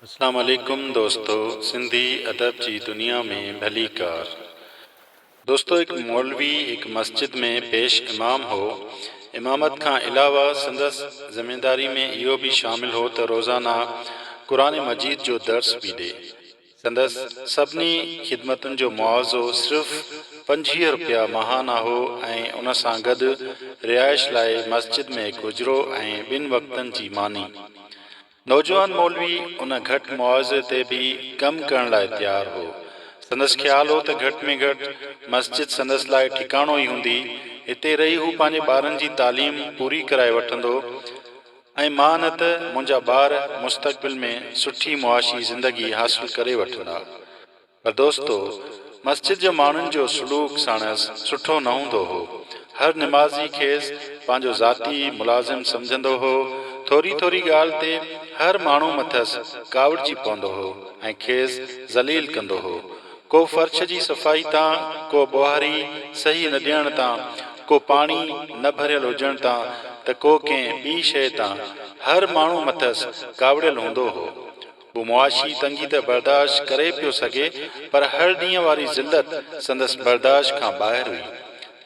اسلام عليڪم دوستو سنڌي ادب جي دنيا ۾ ڀلي ڪار دوستو هڪ مولوي هڪ مسجد ۾ پيش امام هو امامت کان علاوه سندس زمينداري ۾ اهو به شامل هو ته روزانه قرآن مجيد جو درس به ڏي سندس سڀني خدمتن جو معاوضو صرف پنجويهه رپيا ماهانه هو ۽ ان سان گڏ رهائش لاء مسجد ۾ هڪ حجرو ۽ ٻن وقتن جي ماني. نوجوان مولوي ان گهٽ معاوضي تي به ڪم ڪرڻ لاء تيار هو. سندس خيال هو ته گهٽ ۾ گهٽ مسجد سندس لاء ٺڪاڻو ئي هوندي. هتي رهي هو پنهنجي ٻارن جي تعليم پوري ڪرائي وٺندو. ۽ مان نه ته منهنجا ٻار مستقبل ۾ سٺي معاشي زندگي حاصل ڪري وٺندا. پر دوستو! مسجد جو ماڻهن جو سلوڪ ساڻس سٺو نه هوندو هو. هر نمازي کيس پنهنجو ذاتي ملازم سمجهندو هو. ٿوري ٿوري ڳالهه تي هر ماڻهو مٿس ڪاوڙجي پوندو هو ۽ کيس ذليل ڪندو هو. ڪو فرش جي صفائي تان، ڪو ٻوهاري صحيح نه ڏيڻ تان، ڪو پاڻي نه ڀريل هجڻ تان ته ڪو ڪنهن ٻي شيء تان، هر ماڻهو مٿس ڪاوڙيل هوندو هو. هو معاشي تنگي ته برداشت ڪري پيو سگهي، پر هر ڏينهن واري ذلت سندس برداشت کان ٻاهر هئي.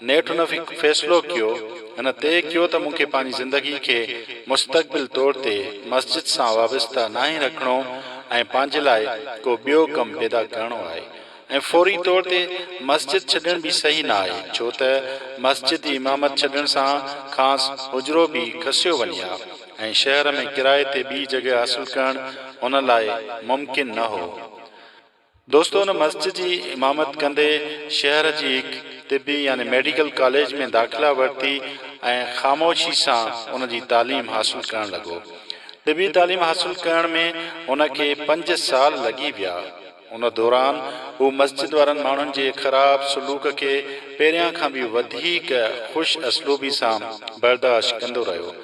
نيٺ هن فيصلو ڪيو هن طئي ڪيو ته مون کي پنهنجي زندگي کي مستقبل طور تي مسجد سان وابسته ناهي رکڻو ۽ پنهنجي لاء ڪو ٻيو ڪم پيدا ڪرڻو آهي ۽ فوري طور تي مسجد ڇڏڻ به صحيح نه آهي ڇو ته مسجد جي امامت ڇڏڻ سان کانئس حجرو به کسيو وڃي ها ۽ شهر ۾ ڪرائي تي ٻي جڳهه حاصل ڪرڻ هن لاء ممڪن نه هو. دوستو ان مسجد جي امامت ڪندي شهر جي هڪ طبي يعني ميڊيڪل ڪاليج ۾ داخلا ورتي ۽ خاموشي سان ان جي تعليم حاصل ڪرڻ لڳو. طبي تعليم حاصل ڪرڻ ۾ هن کي پنج سال لڳي ويا. ان دوران هو مسجد وارن ماڻهن جي خراب سلوڪ کي پهريان کان به وڌيڪ خوش اسلوبي سان برداشت ڪندو رهيو.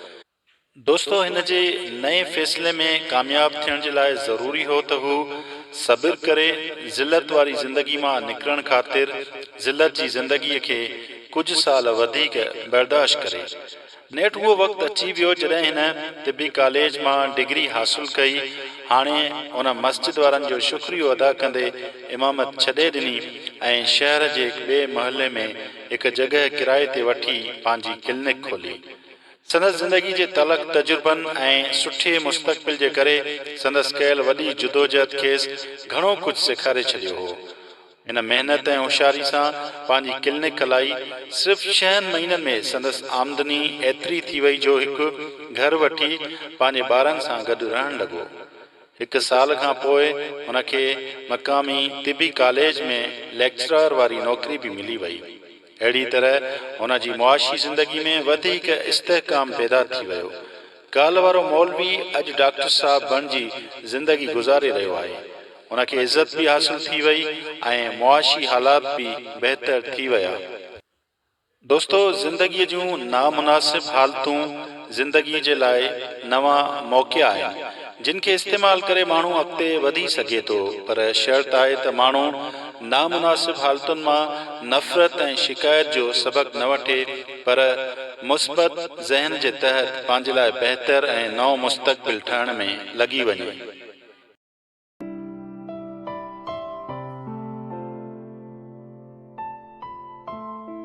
دوستو هن جي نئين فيصلي ۾ ڪامياب ٿيڻ جي لاء ضروري هو ته هو صبر ڪري ذلت واري زندگي مان نڪرڻ خاطر ذلت جي زندگي کي ڪجهه سال وڌيڪ برداشت ڪري. نيٺ اهو وقت اچي ويو جڏهن هن طبي ڪاليج مان ڊگري حاصل ڪئي. هاڻي هن مسجد وارن جو شڪريو ادا ڪندي امامت ڇڏي ڏني ۽ شهر جي هڪ ٻئي محلي ۾ هڪ جڳهه ڪرائي تي وٺي پنهنجي ڪلنڪ کولي. سندس زندگي جي تلخ تجربن ۽ سٺي مستقبل جي ڪري سندس ڪيل وڏي جدوجهد کيس گهڻو ڪجهه سيکاري ڇڏيو هو. هن محنت ۽ هوشياري سان پنهنجي ڪلنڪ هلائي. صرف ڇهن مهينن ۾ سندس آمدني ايتري ٿي وئي جو هڪ گهر وٺي پنهنجي ٻارن سان گڏ رهڻ لڳو. هڪ سال کان پوء هن کي مقامي طبي ڪاليج ۾ ليڪچرار واري نوڪري به ملي وئي. اهڙي طرح هن جي معاشي زندگي ۾ وڌيڪ استحڪام پيدا ٿي ويو. ڪالهه وارو مولوي اڄ ڊاڪٽر صاحب بڻجي زندگي گذاري رهيو آهي. ان کي عزت به حاصل ٿي وئي ۽ معاشي حالات به بهتر ٿي ويا. دوستو زندگيء جون نامناسب حالتون زندگي جي لاء نوان موقعا آهن جن کي استعمال ڪري ماڻهو اڳتي وڌي سگهي ٿو پر شرط آهي ته ماڻهو نامناسب حالتن مان نفرت ۽ شڪايت جو سبق نه وٺي پر مثبت ذهن جي تحت پنهنجي لاء بهتر ۽ نئون مستقبل ٺهڻ ۾ لڳي وڃي.